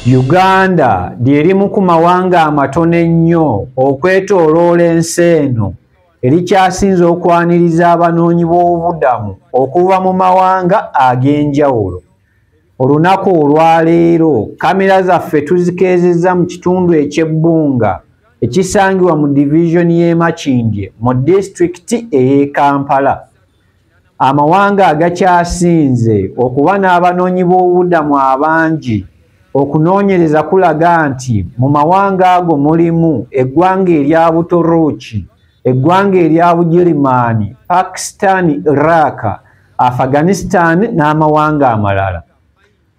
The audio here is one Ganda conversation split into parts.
Uganda lyerimu ku mawanga amatono ennyo okwetoloola ensi eno erikyasinze okwaniriza abanoonyi b'obubudamu okuva mu mawanga ag'enjawulo. olunaku olwaleero kamera zaffe tuzikeezezza mu kitundu ekyebbunga ekisangibwa mu divizoni y'emakindye mu disitulikiti ey'e kampala amawanga agakyasinze okuba n'abanoonyi b'obubudamu abangi okunoonyereza kulaga nti mu mawanga ago mulimu eggwanga erya buturuuki eggwanga erya bugirimaani pakistan iraq afghanistan n'amawanga amalala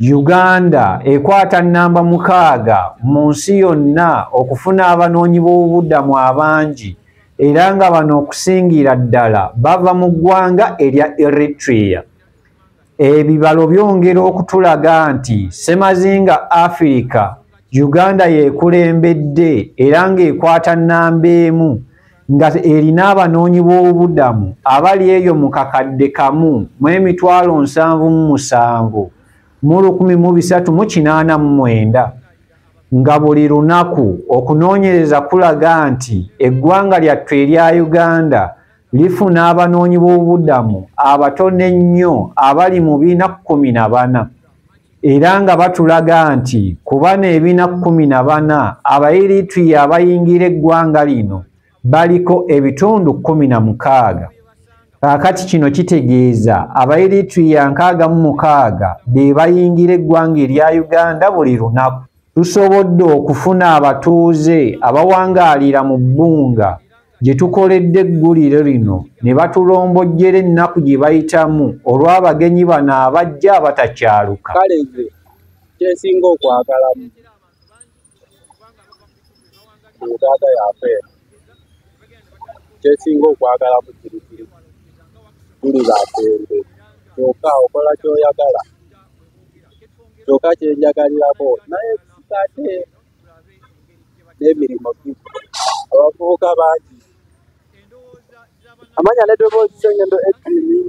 uganda ekwata nnamba mukaaga mu nsi yonna okufuna abanoonyi b'obubudamu abangi era nga bano okusingira ddala bava mu ggwanga erya eritrea ebibalo byongera okutulaga nti semazinga afirika uganda yekulembedde era ng'ekwata nnamba emu nga erina abanoonyi b'obubudamu abali eyo mu kakadde kamu mu emitwalo nsanvu mu musanvu mu lukumi mu bisatu mu kinaana mu mwenda nga buli lunaku okunoonyereza kulaga nti eggwanga lyattu erya uganda lifuna abanoonyi b'obubudamu abatone ennyo abali mu biina kkumi na bana era nga batulaga nti ku bana ebiina kkumi na bana abairituya abayingira eggwanga lino baliko ebitundu kkumi na mukaaga kaakati kino kitegeeza abairituya nkaaga mu mukaaga be bayingira eggwanga erya uganda buli lunaku tusobodde okufuna abatuuze abawangaalira mu bbunga gye tukoledde eggulire lino ne batulombojjera ennaku gye bayitamu olw'abagenyi bano abajja abatakyaluka kale nze kyensinga okwagalamu uganda yafe kyensinga okwagalamu kirikiri tuli bafende kyoka okola kyoyagala kyoka kyenjagalirako naye kate n'emirimu abavubuka bangi amanya nedoboozi sengendo edini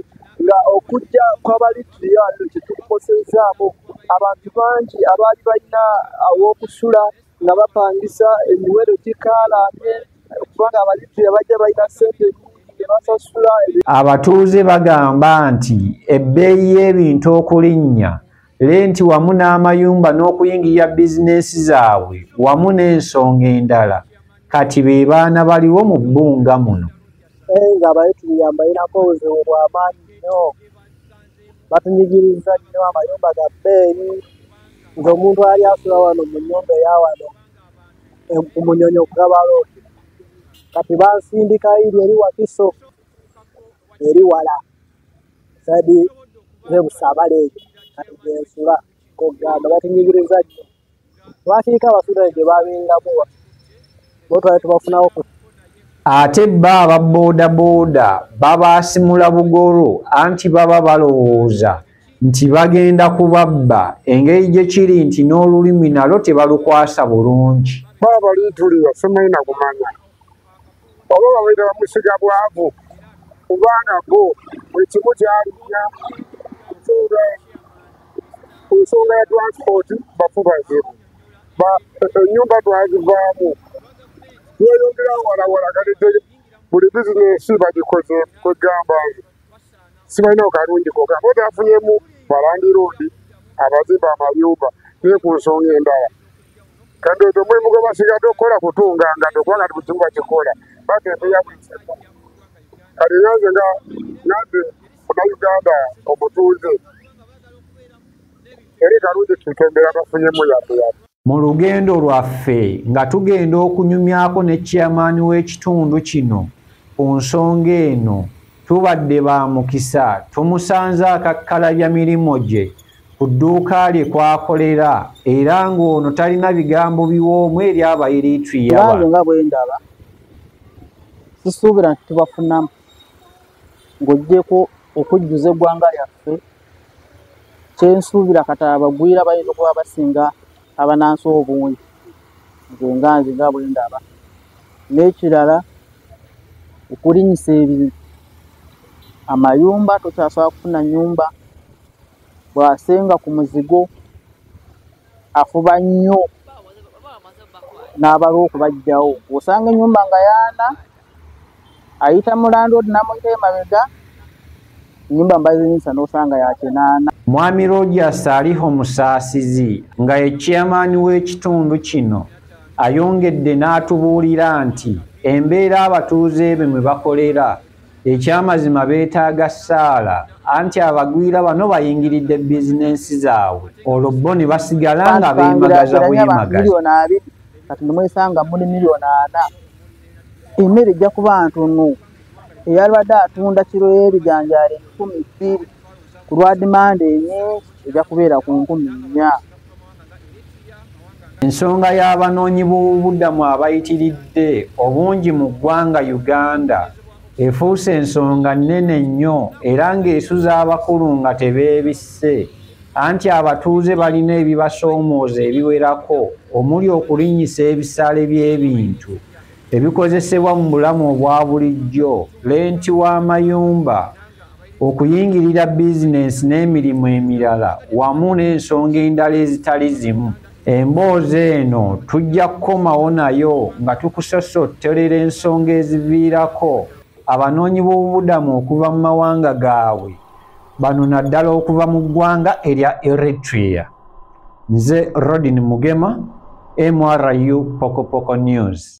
nga okujja kwabalitiriyo ato kyetukukoseezaamu abantu bangi abaali balina aw'okusula nga bapangisa emiwero gikaalanye kubanga abalitiriyo bajja balina sente abatuuze bagamba nti ebbeeyi y'ebintu okulinnya lenti wamu n'amayumba n'okuyingira bizinensi zaabwe wamu n'ensonga endala kati be baana baliwo mu bbunga muno nga baye tuyambayirako obuzibu bwamaanyi nnyo batunyigiriza nnyo amayumba ga bbeeyi nze omuntu ali asula wano mu nyumba eyawano ku munyonyi okugabalooki kati bansindikayo iri eri wakiso eri wala sadi nebusabala ekyo kati gyensula kogamba batunyigiriza nnyo lwakiika abasudan gye babeeramu botwali tubafunawo ku ate bba aba boodabooda babaasimula bugolo anti baba balowooza nti bagenda kubabba engeri gye kiri nti n'olulimi nalwo tebalukwasa bulungi baba balitulira simanyi nakumanya oba babaire bamusiga bwavu kubanga bo buli kimu kyalinya nsonga ku nsonga ya transport bafubaze enyumba twazivaamu yeyongera walawala kati buli bizinesi bagikoze kwegamba nze sibalina okalungi koka bo tafunyemu balandi roodi abazimba amayumba naye ku nsonga endala kandi ekyo mulimu gwe basigadde okukola kutunga nga ndokwanga ti bukimu bakikola bati embeya bwiseko kati nyanze nga nyanze munauganda omutuuze eri kalungi tutembera bafunyemu yadde yadde mu lugendo lwaffe nga tugenda okunyumyako ne chairman w'ekitundu kino ku nsonga eno tubadde ba mukisa tumusanze akakkalabya mirimu gye ku dduuka lye kwakolera era ng'ono talina bigambo biwoomu eri abaeritwiyabange nga bwe ndaba sisuubira nti tubafunamu ng'ogyeko okujjuza eggwanga lyaffe kyensuubira kata abagwira bayinza okuba basinga abanansi obungi nze nga nze nga bwe ndaba n'ekirala okulinyisa ebintu amayumba tokyasobola kufuna nyumba bw'asenga ku muzigo afuba nnyo n'abalwa okubajjawo osanga ennyumba nga yaana ayita mulandod namuyita emabega enyumba mbazinyisa nosanga yakinaana mwami rogers aliho musaasizi nga ye chairman w'ekitundu kino ayongedde n'atubuulira nti embeera abatuuze be mwe bakolera ekyamazima beetaaga ssaala anti abagwira bano bayingiridde bizinensi zaabwe olwo bo ne basigala nga beemagaza bwemagazi kati nemwesanga muli miliyoni ana emmere ejja kuba ntono eyalibadde atunda kiro y'ebijanjaalo enkumi bbiri ku lwa dimanda enyingi ejja kubeera ku nkumi nnya ensonga y'abanoonyi b'obubudamu abayitiridde obungi mu ggwanga uganda efuuse ensonga nnene nnyo era ng'esuza abakulu nga tebeebisse anti abatuuze balina ebibasoomooza ebiwerako omuli okulinyisa ebisale by'ebintu ebikozesebwa mu bulamu obwa bulijjo lenti w'amayumba okuyingirira bizinensi n'emirimu emirala wamu n'ensonga endala ezitali zimu emboozi eno tujja kukomawo nayo nga tukusosotterera ensonga eziviirako abanoonyi b'obubudamu okuva mu mawanga gaabwe bano naddala okuva mu ggwanga erya eritrea nze rodin mugema mru pokopoko news